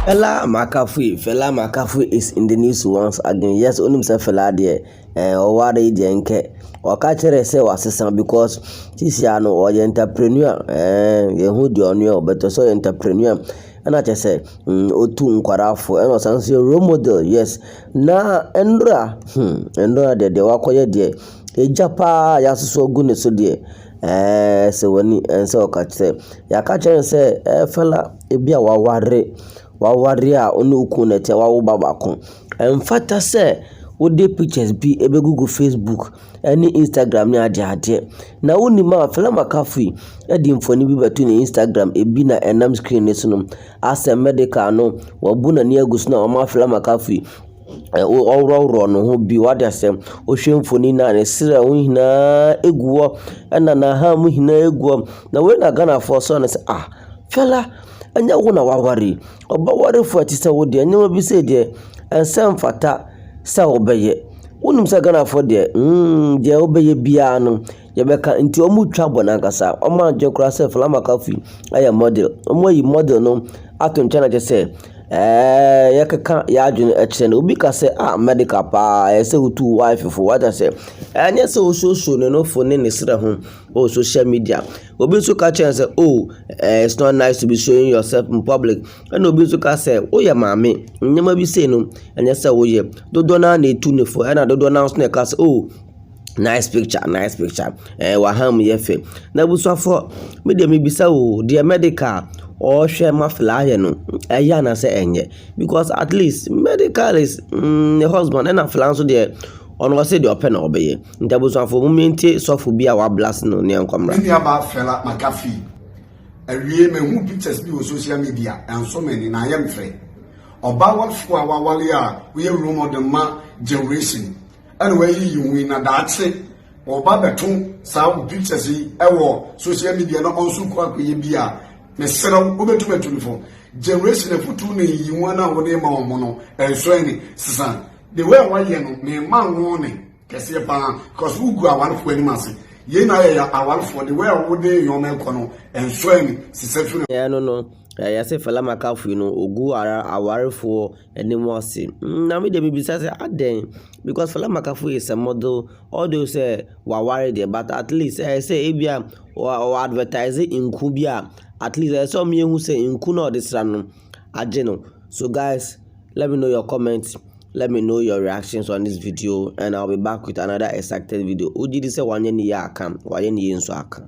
Fela Amakafui, Fela Amakafui is in the news once again, yes wonim sɛ Fela deɛ. eh ɔware yi deɛ nkɛ ɔka kyerɛ sɛ wasesa because sisi a no ɔyɛ entrepreneur ɛɛn yɛhu deɛ ɔno yɛ but ɔse ɔyɛ entrepreneur ɛna kyerɛ sɛ ɔtu nkwadaa fo ɛna ɔsan nso yɛ role model yes na nwura hmm nwura deɛ deɛ wakɔyɛ deɛ egya paa a yɛasosɔ agu ne so deɛ ɛɛn ɛsɛ w'ani ɛnsɛ ɔka kyerɛ yɛaka kyerɛ no sɛ ɛɛ fɛla ebi a waware. W'awareɛ a wo ne wo kunu na ɛteɛ w'awo ba baako. Ɛmfata sɛ wode pictures bi ɛbɛgugu Facebook ɛne Instagram ne adeɛ adeɛ. Na wonim a Fela Makafi ɛde mfoni bi bɛto ne Instagram ebi na ɛnam screen ne so no asɛ medical no wabu n'ani agu so na ɔma Fela Makafi ɔworɔworɔ ne ho bi wade asɛ wohwɛ mfoni no a ne serɛ ho nyinaa ɛgu hɔ ɛna n'aha mu nyinaa ɛgu hɔ na wei na Ghanafoɔ sɔ no sɛ ah Fela Ɛnyɛ wo na woaware yi. Ɔbɛwarefo a ɛte sɛ wo deɛ, nneɛma bi sei deɛ, ɛnsɛ mfata sɛ wobɛyɛ. Wonim sɛ Ghanafoɔ deɛ, hmm, deɛ wobɛyɛ biara no, yɛbɛka. Nti wɔretwa bɔne ankasa. Wɔadwene koraa sɛ Fela McCarthy yɛ model. Wɔayi model no ato nkyɛn na kyerɛ sɛ, ɛɛ, yɛkeka yɛn adwene kyerɛ no. Obi ka sɛ, ah, medical paa, ɛsɛ sɛ wotu wo wife fo. Wate aseɛ? Ɛnyɛ sɛ wosuosua ne nofo ne ne srɛ ho. Oh social media obi nso ka kyerɛ no sɛ oh eh, it's not nice to be showing yourself in public ɛna obi nso ka sɛ woyɛ maame nneɛma bi sei no ɛnyɛ sɛ woyɛ dodoɔ no ara na ɛtu ne fo ɛna dodoɔ no ara nso na ɛka sɛ oh nice picture nice picture ɛɛ eh, waham yɛ fɛ na abusuafoɔ me deɛ mebisa o deɛ medical ɔrehwɛ ma flaayɛ no ɛyɛ anasɛ ɛnyɛ because at least medical is mm, the husband ɛna fla nso deɛ ɔno ɔsɛ deɛ ɔpɛ na ɔbɛyɛ Nti abusuafoɔ momie ntie sɔfo bi a wablast no ne yɛnkɔ mmra. Me nua baa Fela McAfee awie mahu pictures bi wɔ social media ɛnso me ani na ayɛ me fɛ ɔbaa wafoɔ a wawale a woyɛ role model ma generation ɛna wayi yi ho yi na daakye ɔba bɛto saa wo pictures yi ɛwɔ social media na ɔnso kɔ akɔyɛ bi a mesrɛ wo wobɛtum atu no fo generation afutuo na yi ho na wode ma wɔn no ɛnso ɛne sesan the way a wayɛ no mema wo ne kɛseɛ paa because wogu awarefoɔ anim ase yei na ayɛ yɛ awarefoɔ de wɛ a wode nneɛma ɛkɔ no ɛnsɔ ani sisɛ firi ɛno no eh, yɛse fala makafui no ɔgu ara awarefoɔ anim ase mm, na me deɛ mebisa sɛ adɛn because fala makafui is a model although sɛ waware deɛ but at least ɛyɛ eh, sɛ ebia ɔ advertise nku bi a at least ɛyɛ eh, sɛ ɔmeyɛhu sɛ nku na ɔde sra no agye no so guys Let me know your comments. Let me know your reactions on this video and I'll be back with another excited video. Wogye di sɛ wanyɛ ne yie aka, wayɛ ne yie nso aka.